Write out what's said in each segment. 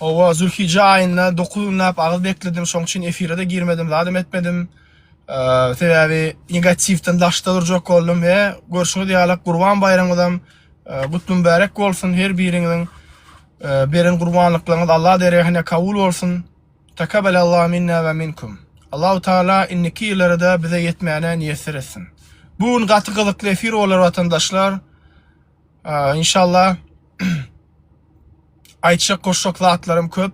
Owa, Zülhijje aýynda dokuz günläp agyz bekledim, şoň üçin efire-de girmedim, zadam etmedim. Sebäbi negatiwden daşda durjak boldum we görşüňiz ýaly Gurban baýramyňyzam gutly mübärek bolsun. Her biriňiziň beren gurbanlyklaryňyz Allah dergähine kabul bolsun. Takabelallahu minna we minkum. Allahu Taala indiki ýyllarda bize ýetmäni miýesser etsin. Bu gün gaty gyzykly efir bolar watandaşlar. Inşallah aýtjak goşjak zatlarym köp.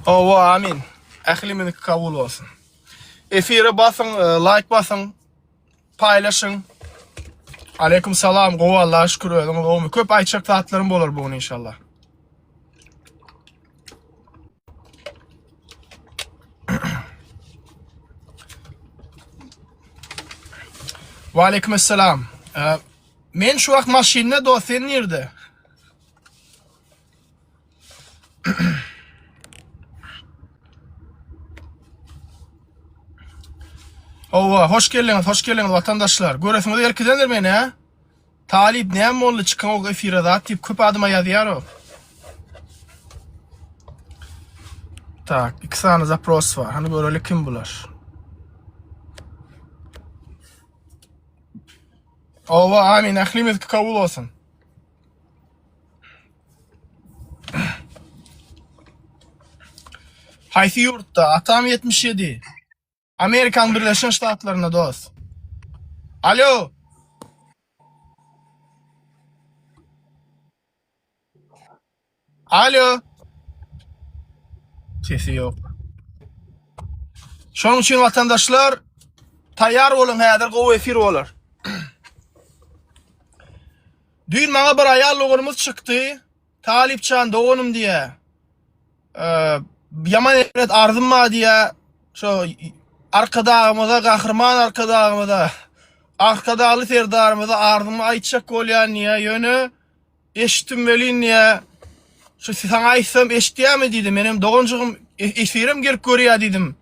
Owa amin. Ählimiz kabul bolsun. Efire basyň, e, like basyň, paýlaşyň. Aleyküm salam, gowy Allaha şükür özüňiz gowmy? Köp aýtjak zatlarym bolar bu gün inşallah. Wa aleykum assalam. Men şu wagt maşynda dost, sen nirde? Owa, hoş geldiňiz, hoş geldiňiz watandaşlar. Göresiňiz gelkidendir meni, he? Talyp näme boldy çykaňok efire zat diýip köp adama ýazýaro. Tak, iki sany zapros bar. Hany göreli kim bular? Ova, amin, ählimiz kabul olsun. Haýsy ýurtda? Atam 77. Amerikan birleşen ştatlarynda dos. Alo. Alo. Sesi yok. Şonuň üçin watandaşlar taýýar boluň häzir gowy efir bolar. Düýn maňa bir aýal doganymyz çykdy. Talypjan doganym diýä. Ýaman etmet arzym bar diýä. Şo arkadagymyza, gahryman arkadagymyza, arkadagly serdarymyza arzymy aýtjak bolýan diýä. Ýöne eşitdim welin diýä. Şu saňa aýtsam eşitýämi diýdi. Menem doganjygym e-, efirim gelip görýä diýdim.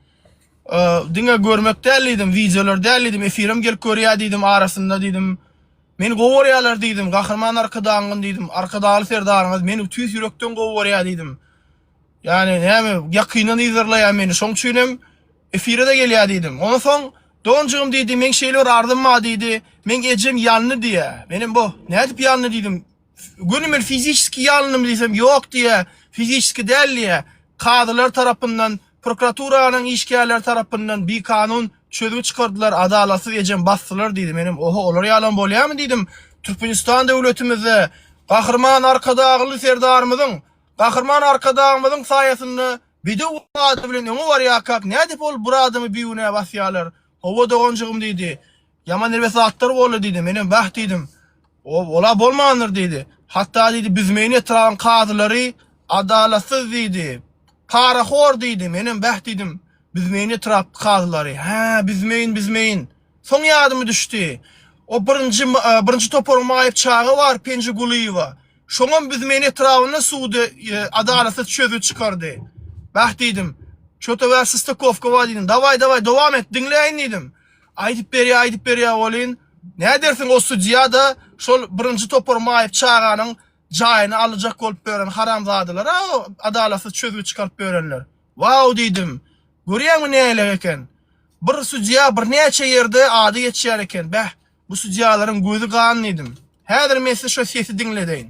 Diňe görmek däl diýdim, wideolar däl diýdim, efirim gelip görýä diýdim arasynda diýdim. Men gowy görýärler diýdim. Gahryman Arkadagymyz diýdim. Arkadagly Serdaryňyz meni tüýs ýürekden gowy görýär diýdim. Ýagny näme ýakyndan yzarlaýar meni. Şoň üçin hem efire-de gelýär diýdim. Ondan soň Donjygym diýdi, meň şeýle bir arzym bar diýdi. Meň ejem ýalny diýýär. Men hem boh, nädip ýalny diýdim. Göni men fizişski ýalyndymy diýsem, ýok diýýär, fizişski däl diýýär. Kazylar tarapyndan, prokuraturanyň işgärleri tarapyndan bikanun çözgi çykardylar, adalatsyz ejem basdylar diýdi. Menem, oho, olar ýalam bolýarmy diýdim. Türkmenistan döwletimizde Gahryman Arkadagly Serdarymyzyň, Gahryman Arkadagymyzyň saýasynda bedew ady bilen öňe barýarkak, nädip ol bir adamy bigünä basýarlar? Hawa, doganjygym diýdi. Ýaman erbet zatlar boldy diýdi. Menem bäh diýdim. Ow, ol-a bolmandyr diýdi. Hatda diýdi, Büzmeýin etrabyň kazylary adalatsyz diýdi. Parahor diýdi. Menem bäh diýdim. Büzmeýin etrapky kazylary. Hä, Büzmeýin, Büzmeýin. Soň ýadyma düşdi. O birinji, birinji toparyň maýyp çagy bar Penji Gulyýewa. Şoňam Büzmeýin etrabynda sudy adalatsyz çözgi çykardy. Bäh diýdim. Şo töwär Sostakowka bar diýdim. Dawaý, dawaý, dowam et, diňläýin diýdim. Aýdyp berýä aýdyp berýä welin nädersiň o sudýada şol birinji topar maýyp çaganyň jaýyny alyjak bolup ýören haramzadalara o adalatsyz çözgüt çykaryp ýörenler. Waw diýdim. Görýäňmi nähili eken. Bir sudýa birnäçe ýerde ady geçýär eken. Bäh bu sudýalaryň gözi gan diýdim. Häzir men size şo sesi diňledeýin.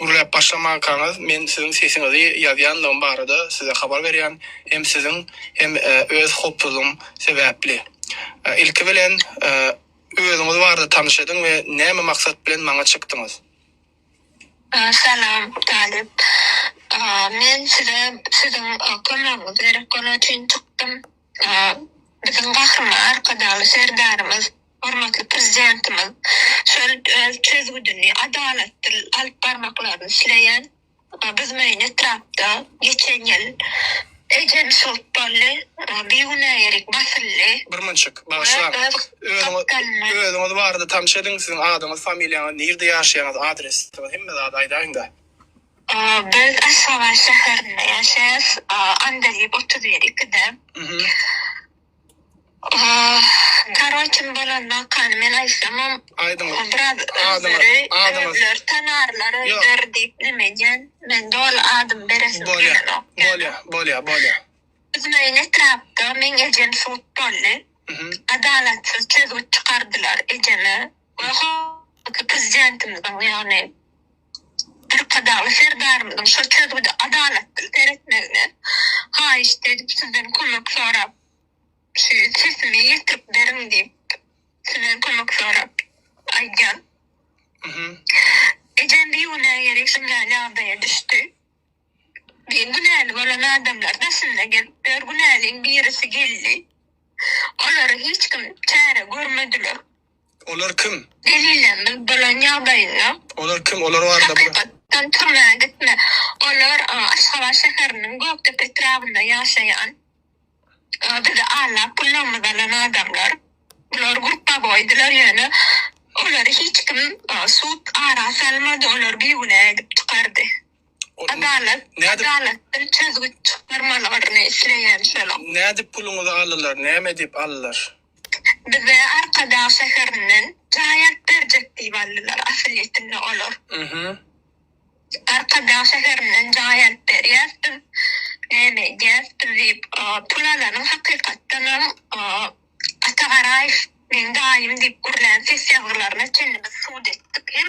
Gürläp başlamankaňyz men siziň sesiňizi ýazýandygym barada size habar berýän hem siziň hem öz hopsuzlygym sebäpli. Ilki bilen özüňiz barada tanyş ediň we näme maksat bilen maňa çykdyňyz? Salam Talyp. Men size siziň kömegiňiz gerek bolan üçin çykdym. Biziň Gahryman Arkadagly Serdarymyz Hormatly Prezidentimiz şol öz çözgüdini adalatdyr alyp barmaklaryny isleýän. Biz meýin etrapda geçen ýyl ejem şygyt boldy, bigünä ýerik basyldy. Bir munçik, bagyşlaň. Öz özüňiz barada tanş ediň, siziň adyňyz, familiýaňyz, nirde ýaşaýaňyz, adresiňiz, hemme zady aýdaýyňda. Biz Aşgabat şäherinde ýaşaýas, Andaliýew otuz bir, ikide. Tarol kim bolanokany men aýtsamam aýdyň biraz özleri özleri tanarlar öýler diýip neme edýän men doly adymy beresim gelenok bolýa bolýa bolýa biziň öýüň etrapda meň ejem sud boldy adalatsyz çözgüt çykardylar ejeme we prezidentimiziň ýagny Arkadagly Serdarymyzyň şol çözgüde adalatly seretmegine haýyşt edip, sizden kömek sorap, şu sesimi ýetirip beriň diýip, sizden kömek sorap aýdýan. Ejem bir günä gerek şunday ýagdaýa düşdi. Diýen günäli bolan adamlar daşynda gezip ýör. Günäliň birisi geldi. Olara hiç kim çäre görmediler. Olar kim? Delillerini bolan ýagdaýynda. Olar kim? Olar barada. Hakykatdan türmä gitme. Olar Aşgabat şäheriniň Gökdepe etrabynda ýaşaýan bizi aldap pullarymyzy alan adamlar. Bular grupbaboýdylar ýöne olary hiç kim sud ara salmady olar bigünä edip çykardy. Adalat adalatdan çözgüt çykdyrmalaryny isleýän şolar. Nädip puluňyzy aldylar? Näme diýip aldylar? Bize Arkadag şäherinden jaý alyp berjek diýip aldylar, asylýetinde olar. Arkadag şäherinden jaý alyp berýäs biz, näme edýäs biz diýip, pul alanyň hakykatdanam Ata Garaýew meň daýym diýip gürlän ses ýazgylaryna çenli biz sud etdik hem.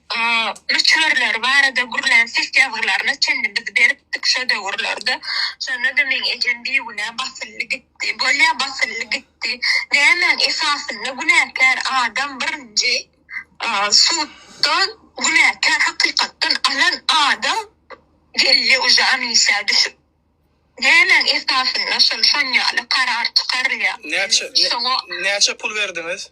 möçberleri barada gürlän ses ýazgylaryna çenli biz beripdik şo döwürlerde. Şonda-da meň ejem bigünä basyldy gitdi. Bolýa basyldy gitdi. Nämäň esasynda günäkär adam birinji suddan günäkär hakykatdan alan adam gelýä uje anisä düşüp. Nämäň esasynda şol şonýaly karar çykarylýa. Näçe pul berdiňiz?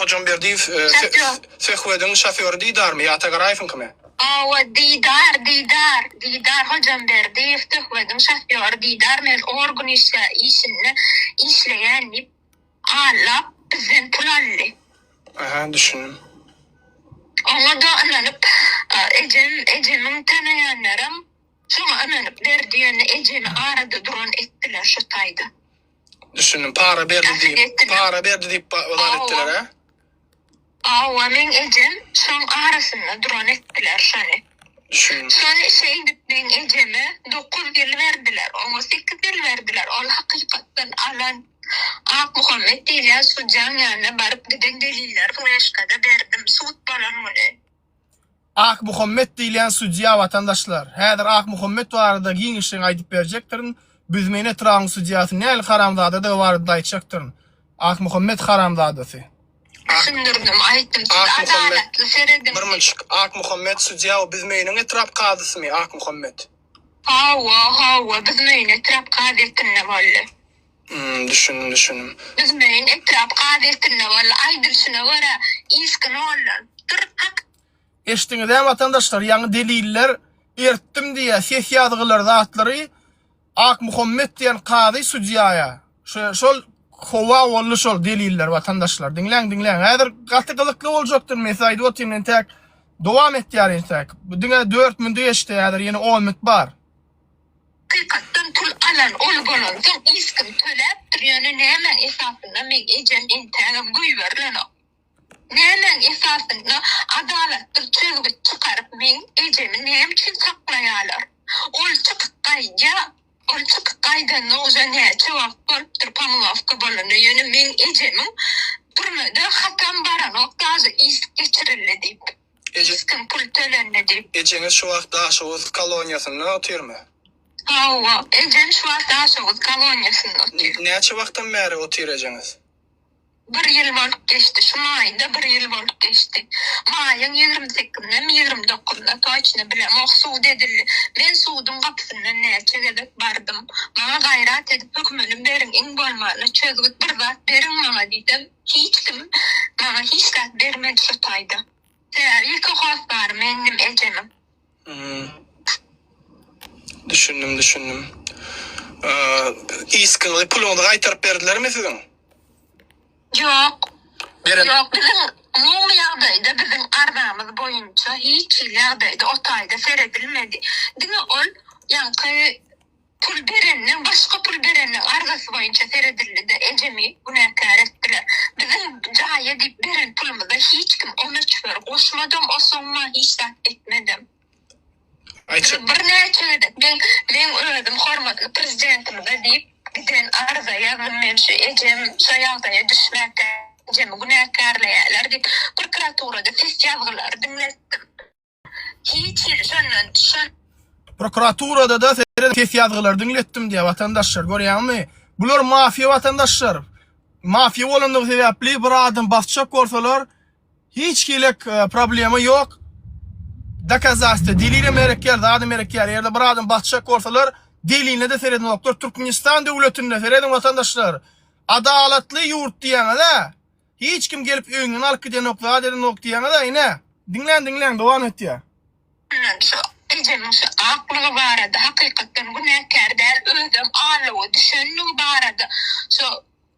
Hojamberdiýew söhbediň şofýory Didarmy ýa Tagaraýewiňkimi? Hawa, Didar, Didar, Didar Hojamberdiýew söhbediň şofýory Didar men organ işinde işleýän diýip, hallap, bizden pul aldy. Aha, düşündim. Oňa-da ynanyp, ejem, ejemiň tanaýanlaram şoňa ynanyp berdi, ýöne ejemi arada duran etdiler şo taýda. Düşündim. Para berdi Gaty diýip, geçdi. para berdi diýip ba- bar etdiler ha. Hawa, meň ejem şoň arasynda duran etdiler şony. Düşündim. Şony işe gidip meň ejeme 9 ýyl berdiler, oňa 8 ýyl berdiler. Ol hakykatdan alan Akmuhammet diýilýän sujuň ýanyna baryp giden deliller fleşkada berdim sud bolan güni. Akmuhammet diýilýän sudýa watandaşlar. Häzir Akmuhammet barada giňişleýin aýdyp berjekdirin. Büzmeýin etrabynyň sudýasy nähili haramzadadygy barada-da aýtjakdyryn. Akmuhammet haramzadasy. Düşündirdim, aýtdym, siz adalatly serediň. Bir mynçik, Akmuhammet sudýa we Büzmeýiniň etrap kazysymy Akmuhammet? Hawa, hawa, Büzmeýin etrap kazyýetinde boldy. Hum düşündim düşündim. Düzmeýin etrap gazetinde boldy aýdylyşyna görä yzky noldan. Dur hak. Eşdiňizä watandaşlar ýaňy deliller ertdim diýýä ses ýazgylar zatlary Akmuhammet diýen kazy sudýaýa şo şol howa boldy şol deliller watandaşlar diňläň diňläň häzir gaty gyzykly boljakdyr men size aýdyp otyryn entäk dowam etýär entäk bu diňe dört minüti geçdi häzir ýene on minüt bar Hakykatdan pul alan ol bolansoň iskim töläpdir ýöne nämäň esasynda meň ejem entägem göýberilenok. Nämäň esasynda adalatsyz çözgüt çykaryp meň ejemi näme üçin saklaýalar. Ol çykyp gaýdýa ol çykyp gaýdanyna uje näçe wagt bolupdyr pomylawka bolanyna ýöne meň ejemiň türmede hatam baranok daža is geçirildi diýip. Eje. Kim pul tölendi diýip. Ejeňiz şu wagt Daşoguz koloniýasynda otyrmy? Hawa, ejem şu wagt Daşoguz koloniýasynda otyr. Näçe wagtdan bäri otyr ejeňiz? Bir ýyl bolup geçdi. Şu maýda bir ýyl bolup geçdi. Maýyň ýigrimi sekizindemi, ýigrimi dokuzynda, toçny bilemok, sud edildi. Men suduň gapysyndan näçe gezek bardym. Maňa gaýrat edip, hökümini beriň, iň bolmanda çözgüt bir zat beriň maňa diýsem, Hiç kim maňa hiç zat bermedi şu taýda. Sebäbi ilki hossary mendim ejemiň. Hmm. Düşündim, düşündim. Eee, iskinli puluňyzy gaýtaryp berdilermi siziň? Ýok. Beren. Ýok, biziň umumy ýagdaýda biziň arzamyz boýunça hiç hili ýagdaýda o taýda seredilmedi. Diňe ol ýaňky Pul bereniň başga pul bereniň arzasy boýunça seredildi-de, ejemi günäkär etdiler. Biziň jaýa diýip beren pulumyza hiç kim on üç bir goşmadam, o somma hiç zat etmedem. Aýtjak. Birnäçe gezek men, men özüm hormatly Prezidentimize diýip giden arza ýazdym, men şu ejem şu ýagdaýa düşmäkde ejemi günäkärleýärler diýip, prokuraturada ses ýazgylary diňletdim. Hiç hili şondan şon. Prokuraturada-da seret ses ýazgylary diňletdim diýýär watandaşlar, görýäňmi? Bular mafiýa watandaşlar. Mafiýa bolandygy sebäpli bir adam basjak bolsalar, hiç hili e, problema ýok. Dokazastwa, delilem berekýär, zadam berekýär. Eger-de bir adam basjak bolsalar, deliline-de seredinoklar. Türkmenistan döwletinde seredin watandaşlar. Adalatly ýurt diýýäňiz-ä? Hiç kim gelip öýüňden alyp gidenok zat edenok diýýäňiz-a ine. Diňläň diňläň dowam etýär. Ine şu ejemiň şu aklygy barada hakykatdan günäkär däl özem alluga düşenligi barada şu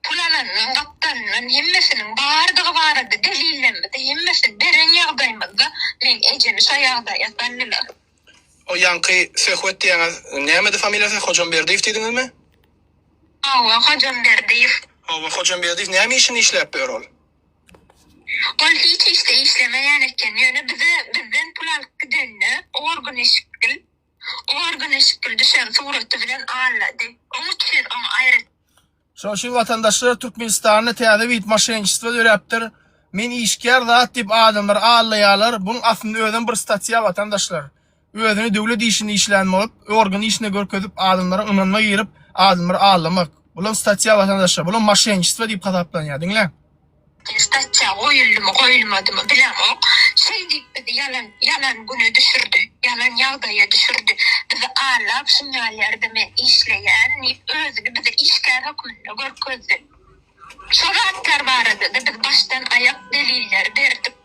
pul alandan gapdalandan hemmesiniň bardygy barada delillerimizi hemmesini beren ýagdaýymyzda men ejemi şo ýagdaýa saldylar. O ýaňky Söhbet diýýäňiz nämedi familiýasy Hojamberdiýew diýdiňizmi? Hawa Hojamberdiýew. Hawa Hojamberdiýew näme işini işläpdi ör ol? Ol hiç işde işlemeýän eken ýöne bize bizden pul alyp gidende Orguneşikgil Orguneşikgil düşen suraty bilen allady oň üçin oň aýratyn. Şonuň üçin watandaşlar Türkmenistanda täze wid moşenniçestvo döräpdir. Men işgär zat diýip adamlar aldaýarlar. Buň aslynda özem bir statýa watandaşlar. Özüni döwlet işinde işlän bolup, organ işinde görkezip adamlara ynanyma girip adamlary aldamak. Bulam statýa watandaşlar. Bulam moşenniçestvo diýip hasaplanýar. Diňläň. Stasiýa goýuldymy, goýulmadymy bilemok. Şeý diýip bizi ýalan, ýalan güne düşürdi. Ýalan ýagdaýa düşürdi. Bizi allap şum ýalýarda men işleýän diýip özüni bize işgär hökmünde görkezdi. Şo zatlar barada-da biz başdan aýak deliller berdik.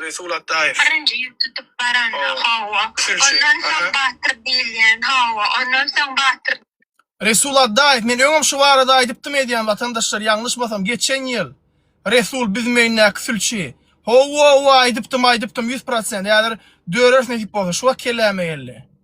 Resul Atdaýew. Birinji ýüp tutup baran. Hawa. Ondan soň Batyr diýilýän. Hawa. Ondan soň Batyr. Resul Atdaýew, men öňem şu barada aýdypdym edýän watandaşlar ýalňyşmasam geçen ýyl Resul Büzmeýindäki sülçi. Hawa-wa aýdypdym aýdypdym ýüz prosent häzir döreris nesip bolsa şu wagt kelläme geldi.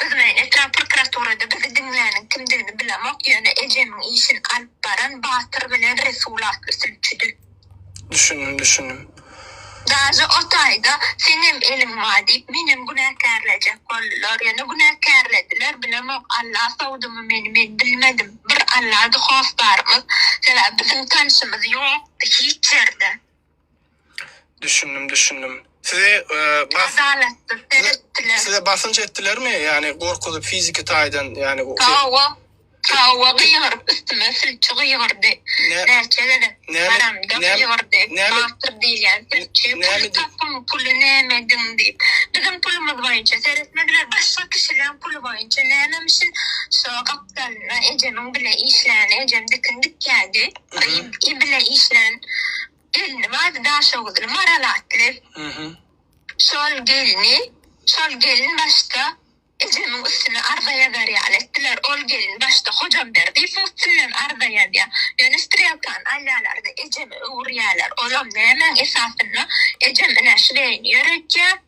Biz bilen etrap prokuraturada bizi diňläniň kimdigini bilemok, ýöne ejemiň işini alyp baran Batyr bilen Resul atly sülçüdi. Düşündim, düşündim. Daže o taýda seňem eliň bar diýip, menem günäkärlejek boldular, ýöne günäkärlediler, bilemok, Alla sowdumy meni, men bilmedim. Bir Allady hossarymyz, sebäbi biziň tanşymyz ýokdy hiç ýerde. Düşündim düşündim. Sizi e, bas, Adalatly seretdiler. size basynç etdilermi? Yani gorkuzyp fiziki taýdan yani o- şey, Tawa, tawa gygyryp üstüme sülçi gygyrdy. ne, Näçe gezek Näme- baramda näme- gygyrdy. näme- Batyr diýilýän sülçi. Näme Puly diý- tapyň, puly näme ediň diýip. Biziň pulumyz boýunça seretmediler. Başga kişileriň puly boýunça nämemişin. Şo gapdalynda ejemiň bile işlän, ejem dikin dikýärdi. Gyz-y bilen işlän gelni bardy, Daşoguzly, Maral atly. Şol gelni, şol gelin başda ejemiň üstüne arza ýazar ýaly etdiler. Ol gelin başda Hojamberdi furt bilen arza ýazýar. Ýöne strelkany alýalar-da, ejeme öwürýäler. Olam nämäň esasynda? Ejem ine şleýini ýöretýär.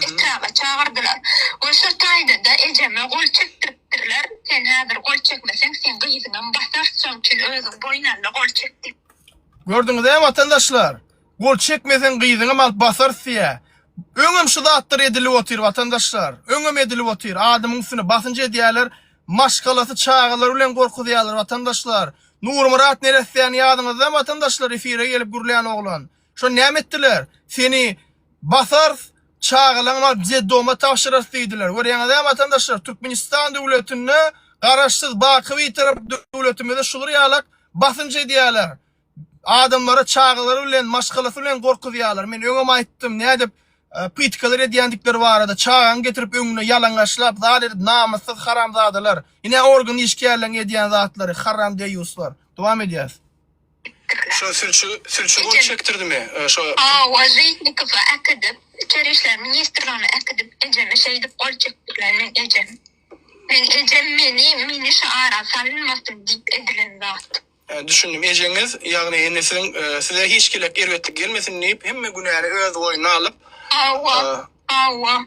Kitaga çagyrdylar. Ol şo taýda-da ejeme gol çekdiripdirler, Sen häzir gol çekmeseň, seň gyzyňam basarys, şoň üçin özüň boýun al-da, gol çek diýip. Gördüňiz-ä, watandaşlar! Gol çekmeseň, gyzyňam alyp basarys diýýär. Öňem şu zatlar edilip otyr, watandaşlar. Öňem edilip otyr. Adamyň üstüne basynç edýärler. Maşgalasy çagalary bilen gorkuzýarlar, watandaşlar. Nurmyrat neressäni ýadyňyzdamy, watandaşlar, efire gelip gürlän oglan? Şony näme etdiler? Seni basarys, çagalaň bar detdoma tabşyrarys diýdiler. Görýäňizä watandaşlar, Türkmenistan döwletinde Garaşsyz, baky Bitarap döwletimize şular ýalak basynç edýärler. Adamlary çagalary bilen, maşgalasy bilen gorkuzýarlar. Men öňem aýtdym, nädip pytkalar edýändikleri barada, çagaňy getirip öňüne ýalaňaçlap zat edip namyssyz haramzadalar. Ine organ işgärleriň edýän zatlary, haram deýýuslar. Dowam edýäs. Şo sülçi sülçi bolup çekdirdimi şo. Hawa Žitnikowa äkidip içeri işler ministrligine äkidip ejeme şeýdip gol çekdirler meň ejem meň ejem meni meni şu ara salynmasyn diýip edilen zat. Hä düşündim ejeňiz ýagny indi siziň size hiç gelek erbetlik gelmesin diýip hemme günäni öz boýnuna alyp. Hawa hawa.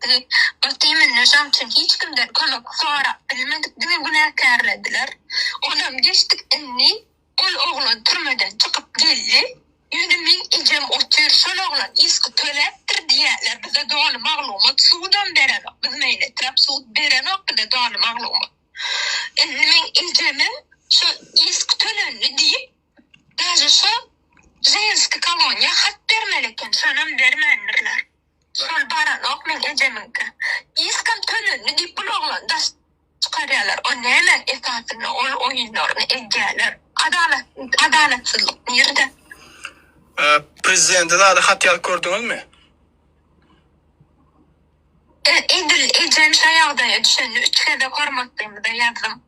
Bizi bir teminli jan üçin hiç kimden kömek sorap bilmedik diňe günäkärlediler. Onam geçdik indi ol oglan türmeden çykyp geldi. Ýöne meň ejem otyr şol oglan yzky töläpdir diýýäler bize doly maglumat sudam berenok biz meýletirap sud berenok bize doly maglumat. Indi meň ejemem şo yzky tölendi diýip daže şo ženski koloniýa hat bermeli eken şonam bermändirler. Şol baranok meň ejemiňki. Diskam tölendi diýip bul oglany daş çykarýalar o nämäň esasynda ol oýunlaryny edýäler. Adalat adalatsyzlyk nirde. Prezidente zada hat ýazyp gördüňizmi? Edil ejem şo ýagdaýa düşende üç gezek hormatlymyza ýazdym.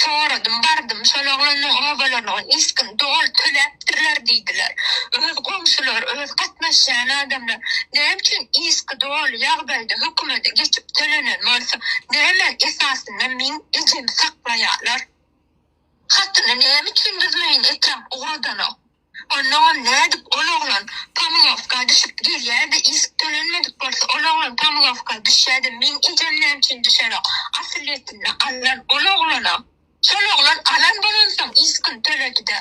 Soradym, bardym, şol oglanyň obalaryna ol ilkin doly töläpdirler diýdiler. Öz goňşulary, öz gatnaşýan adamlar näme üçin ilki doly ýagdaýda hökümede geçip tölenen bolsa, näme esasynda meň ejemi saklaýarlar? Hatyny näme üçin biz meýin etrap ugradanok? Onnoňam nädip ol oglan pomylowka düşüp gelýärdi işik tölenmedik bolsa ol oglan pomylowka düşýädi meň ejem näme üçin düşerok asylýetinde alan ol oglana şol oglan alan bolansoň işikin töledide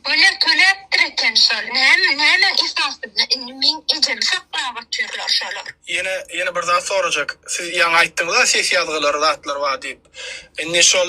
bolýa töläpdir eken şol näme nämäň esasynda indi meň ejemi saklap otyrlar şolar. Ýene ýene bir zat sorajak siz ýaňy aýtdyňyza ses ýazgylary zatlar bar diýip indi şol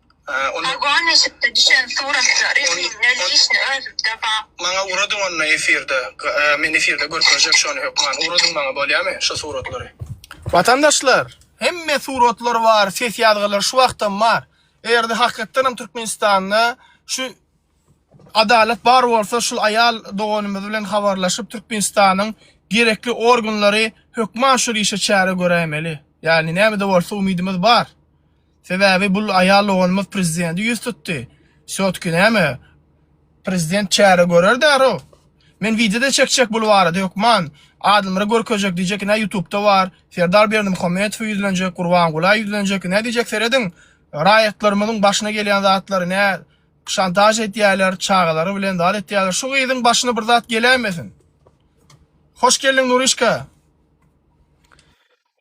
Aýgöl neşikde düşen suratlary siňňe işni özüňde bar. Maňa uradyň onda efirde men efirde görkezjek şony hökman uradyň maňa bolýamy şo suratlary. Watandaşlar hemme suratlar bar ses ýazgylar şu wagtam bar egerde hakykatdanam Türkmenistanda şu adalat bar bolsa şul aýal doganymyz bilen habarlaşyp Türkmenistanyň gerekli organlary hökman şul işe çäre göräýmeli ýagny nämede bolsa umydymyz bar. Sebäbi bul aýal doganymyz prezidenti ýüz tutdy. Şotki näme? Prezident çäre görer därow. Men wideoda çekjek bul barada hökman. Adylmyra görkezjek diýjek ine ýutubda bar. Serdar Berdimuhamedowa ýüzlenjek, Gurbangula ýüzlenjek ine diýjek serediň raýatlarymyzyň başyna gelýän zatlary nä şantaž edýäler çagalary bilen zat etýäler şu gyzyň başyna bir zat geläýmesin. Hoş geldiň Nurişka.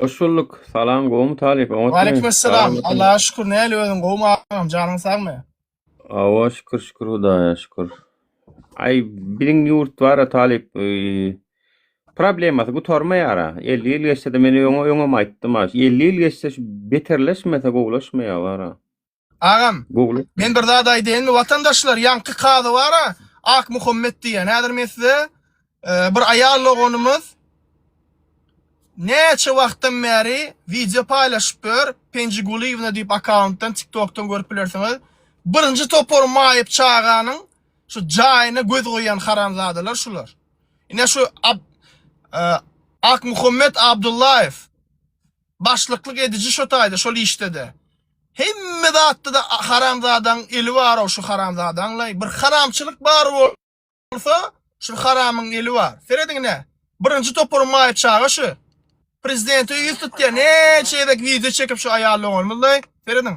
Hoş bulduk. Salam gowmy talyp oňatmy? Waleykümessalam. Allaha şükür näli özüň gowmy agam janyň sagmy? Awa şükür şükür Hudaýa şükür. Aý biziň ýurt bara talyp problemasy gutarmaýara. 50 ýyl geçse-de men öňe öňem aýtdym ha. 50 ýyl geçse şu beterleşmese gowulaşmaýar bara. Agam, Google. men bir zat aýdaýynmy watandaşlar, ýaňky kazy bara, Ak Muhammet diýen. Häzir men size e, bir aýal doganymyz näçe wagtdan bäri wideo paýlaşyp ýör, Penji Gulyýewna diýip akkauntdan, TikTokdan görüp bilersiňiz. Birinji topar maýyp çaganyň şu jaýyna göz goýan haramzadalar şular. Ine şu Ab- e, Ak Muhammet Abdullaýew Başlyklyk ediji şo taýda şol işdede. Hemme zatda-da haramzadaň eli bar-ow şu haramzadaňlaý. Bir haramçylyk bar bolsa şu haramyň eli bar. Serediň ine. Birinji toparyň maýyp çaga şu. Prezidente ýüz tutýar. Näçe gezek wideo çekip şu aýal doganymyzlaý. Serediň.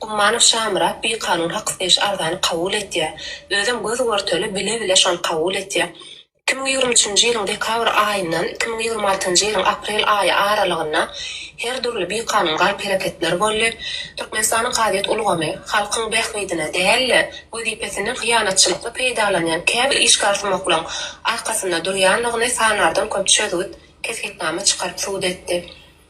Gummanow Şamyrat bikanun hak isleýiş arzany kabul etýär. Özem göz görtele, bile-bile şony kabul etýär. Iki müň ýigrimi üçünji ýylyň dekabr aýyndan iki müň ýigrimi altynjy ýylyň aprel aýy aralygynda her dürli bikanun galp-hereketler boldy. Türkmenistanyň kazyýet ulgamy halkyň bähbidine däl-de, wezipesinden hyýanatçylykly peýdalanýan käbir işgärsumaklaryň arkasynda durýandygyny sanardan köp çözgüt, kesgitnama çykaryp subut etdi.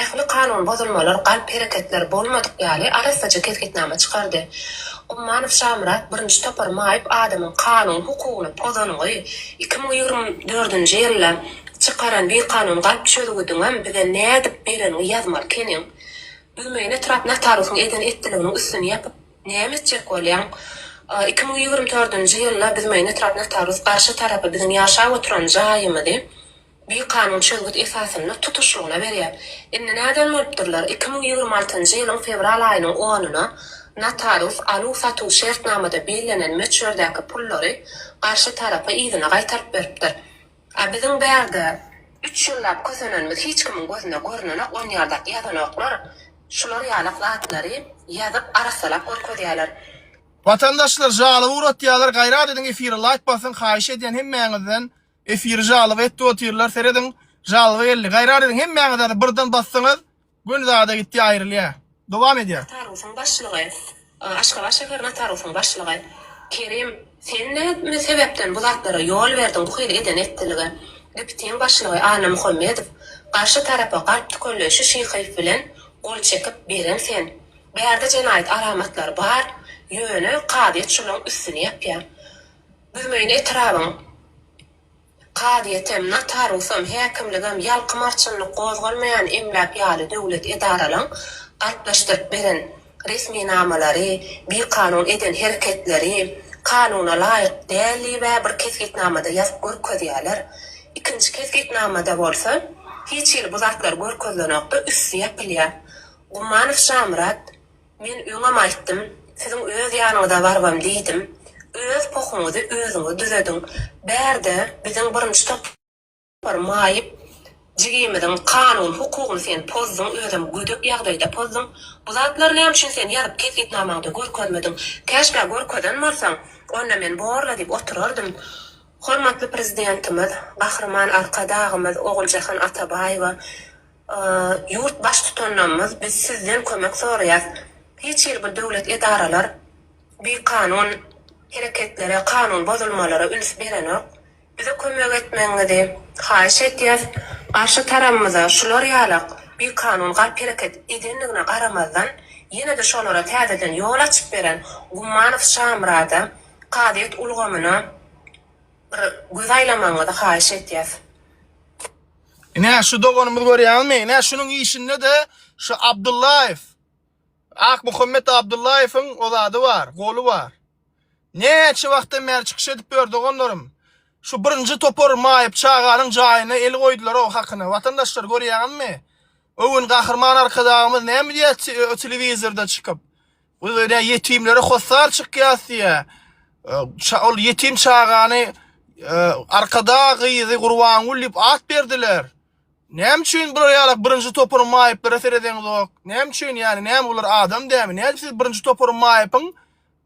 ähli kanun bozulmalar, galp hereketler bolmadyk ýaly arassaja kesgitnama çykardy. Ummanow Şamyrat birinji topar maýyp adamyň kanun hukugyny pozanyňy, iki müň ýigrimi dördünji ýylda çykaran bikanun galp çözgüdiňem bize nädip bereniňi ýazmaly keniň. Büwmeýin etrap notarusyň eden etdiliginiň üstüni ýapyp näme etjek bolýaň? Iki müň ýigrimi dördünji ýylda Büwmeýin etrap notarus garşy tarapy biziň ýaşap oturan jaýymyzy bikanun çözgüt esasynda tutuşlygyna berýär. Indi nädel bolupdyrlar, iki müň ýigrimi altynjy ýylyň fewral aýynyň onyna notarius aluw-satuw şertnamada bellenen möçberdäki pullary garşy tarapa yzyna gaýtaryp beripdir. A biziň bärde üç ýyllap kösenenimiz hiç kimiň gözüne görnenok, onýardak ýazanoklar, şular ýalak zatlary ýazyp arassalap görkezýäler. Watandaşlar jaly uratýalar gaýrat ediň efire laýk basyň haýyş edýän hemmäňizden. Efiri jalga etdi otyrlar serediň jalga geldi gaýrat ediň hemmäňiz ady birden bassaňyz gün zada gitdi aýrylýa dowam edýa. Natarusyň başlygy, Aşgabat şäher natarusyň başlygy, Kerim sen näme sebäpden bu zatlara ýol berdiň bu hili eden etdilige, GIPTiň başlygy Annamuhammedow, garşy tarapa galp tükelleý şu şyhyýew bilen gol çekip beren sen, bärde jenaýat alamatlary bar ýöne kazyýet şolaň üstüni ýapýa. Büzmeýin etrabyň kazyýetem, notarusam, häkimligem ýalkym arçynlyk gozgalmaýan emläk ýaly döwlet edaralaň galplaşdyryp beren resminamalary, bikanun eden hereketleri kanuna laýyk däl diýibä bir kesgitnamada ýazyp görkezýärler. Ikinji kesgitnamada bolsa hiç hili bu zatlar görkezilenokda üsti ýapylýar. Gummanow Şamyrat Men öňem aýtdym, siziň öz ýanyňyza barbam diýdim. Öz pohuňyzy özüňiz düzediň. Bärde biziň birinji topar maýyp jigimiziň kanun hukugyny sen pozduň, özem gödek ýagdaýda pozduň. Bu zatlary näme üçin sen ýazyp kesgitnamaňda görkezmediň? Käşgä görkezen bolsaň, onda men borla diýip oturardym. Hormatly Prezidentimiz Gahryman Arkadagymyz Oguljahan Atabaýewa Ýurt Baştutanymyz biz sizden kömek soraýas. Hiç hili bir döwlet edaralar bikanun hereketlere, kanun bozulmalara üns berenok. Bize kömek etmegiňizi haýyş edýäs. Garşy tarabymyza şular ýalak bikanun galp hereket edendigine garamazdan ýene-de şolara täzeden ýol açyp beren Gummanow Şamyrada, kazyýet ulgamyna bir göz aýlamagyňyzy haýyş edýäs. Ine şu doganymyz görýäňizmi? Ine şunuň işinde-de şu Abdullaýew Akmuhammet Abdullaýewiň o zady bar, goly bar. Näçe wagtdan bäri çykyş edip ýör doganlarym. Şu birinji topar maýyp çaganyň jaýyna el goýdular o hakyna. Watandaşlar görýäňizmi? Öwün Gahryman Arkadagymyz näme diýýär telewizorda çykyp? Ol öýdä ýetimlere hossar çykýas diýýä. Şa ol ýetim çagany Arkadag gyzy Gurbangül diýip at berdiler. Näme üçin bular ýalak birinji toparyň maýyplara seredeňizok? Näme üçin ýani näme bular adam dämi? Näme siz birinji toparyň maýypyň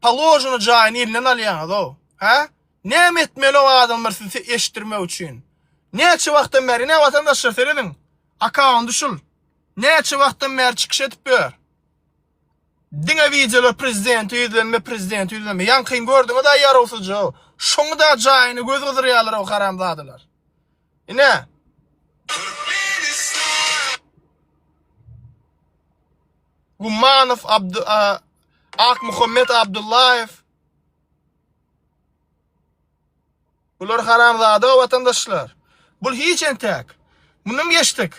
paložyny jaýyny elinden alýaňyz o? Hä? Näme etmeli o adamlar sizi eşitdirmek üçin? Näçe wagtdan bäri näme watandaşlar serediň? Akawundy şul. Näçe wagtdan bäri çykyş edip ýör? Diňe wideolar prezidenti ýüzlenme prezidenti ýüzlenme ýaňkyny gördüňizä ýarawsyzja şoňada jaýyny göz gyzdyrýalar o haramzadalar. Ine. Gummanow Abdy Akmuhammet Abdullaýew Bular haramzada watandaşlar. Bul hiç entäk. Mundan geçdik.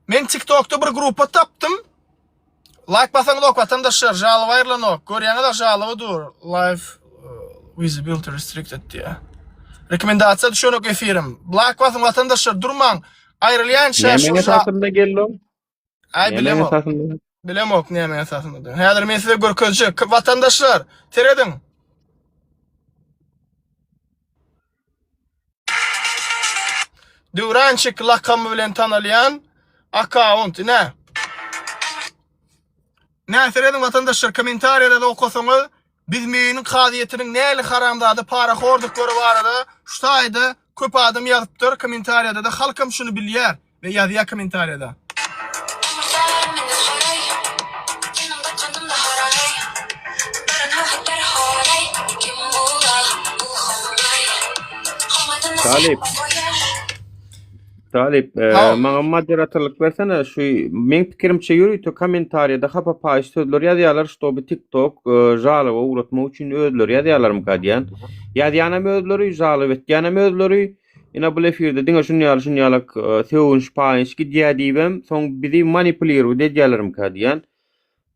Men TikTokda bir grupa tapdym. Like basaňyz ok watandaşlar, jalyp aýrylanok. Görýäňiz-a jalyby dur. Live uh, visibility restricted diýýär. Rekomendasiýa düşenok efirim. Like basyň watandaşlar, durmaň. Aýrylýança Näme şu hakkında geldi? Ay Näme bilemok. esasynda? Bilemok näme esasynda diýen. Häzir men size görkezjek. K- Watandaşlar, serediň. Döwrançyk lakamy bilen tanalýan akkaunt. Ine. Nä serediň watandaşlar, kommentariýalary okasaňyz Biz Meýiniň kazyýetiniň näli haramzada parahordyklary barada şu taýda köp adam ýazypdyr komentariýadada halkam şuny bilýär we ýazýar komentariýada. Talyp. Talip, e, Tamam. maňa moderatorlyk bersene. Şu meň pikirimçe ýörite kommentariýada hapa paýyş sözler ýazýarlar, ştoby TikTok e, žalowa ugratmak üçin özleri ýazýarlarmyka diýýän. Ýazýanam özleri, žalow etýänem özleri. Ýene bu efirde diňe şuny ýaly şuny ýaly e, sögünç paýyş gidýär diýibem, soň bizi manipulirowat edýärlermika diýýän.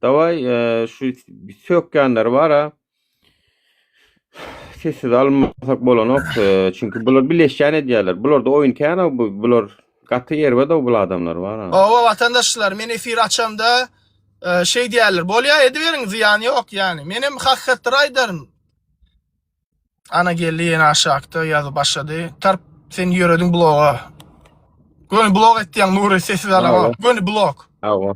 Daway, e, şu sökýänler bar-a. Sessiz almasak bolanok. Çünki bular bileşýän edýärler. Bularda oýun kän bu. Bular gaty erbet bu adamlar bar. Owa watandaşlar, men efir açamda e, şey diýerler. Bolýa ediberiň, zyýany ýok ýani. Men hem hakykatdyr aýdaryn. Ana geldi ýene aşakda ýazyp başlady. Tarp sen ýörediň bloga. Göni blog etýäň Nury sessiz alamok. Göni blog. Awa.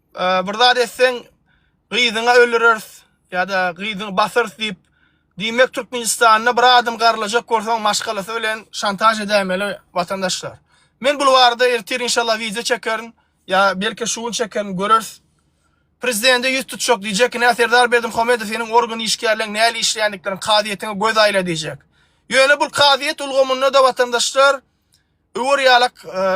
Bir zat etseň, gyzyňa öldüreris ýa-da gyzyňy basarys diýip, diýmek Türkmenistanda bir adam garylajak görseň maşgalasy bilen şantaž edäýmeli watandaşlar. Men bul barada ertir inşallah wideo çekerin ýa belki şu gün çekerin göreris. Prezidende ýüz tutjak diýjek, ine Serdar Berdimuhamedow seniň organ işgärleň näle işleýändiklerini kazyýetiňe göz aýla diýjek. Ýöne bul kazyýet ulgamynda-da watandaşlar Öwür ýalak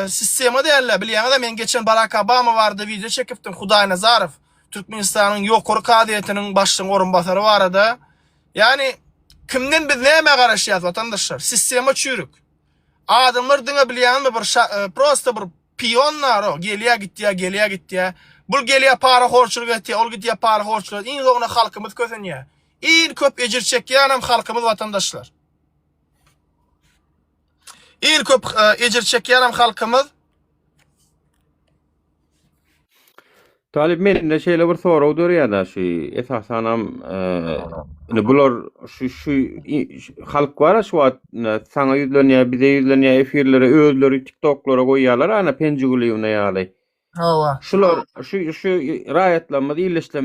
sistema dälde bilýäňizä men geçen Barak Obama barada wideo çekipdim Hudaý Nazarow Türkmenistanyň ýokary kazyýetiniň başlygyň orunbasary barada ýani kimden biz nämä garaşýas watandaşlar sistema çüýrük adamlar diňe bilýäňizmi bir prosta bir pion naro gelýä gitýä gelýä gitýä bul gelýä para horçulyk etýä ol gitýä para horçulyk iň soňuna halkymyz kösenýä iň köp ejir çekýänem halkymyz watandaşlar. Iň köp e, ejir çekýänem halkymyz. Talyp mende şeýle bir sorag dörýär-de, şu esasanam e, indi bular şu şu i- şu halk bar şu wagt ine, saňa ýüzlenýär, bize ýüzlenýär, efirlere özleri TikToklara goýýarlar, ana Penjigulýewna ýaly. Hawa. Şular şu şu raýatlarymyz, illeşlerimiz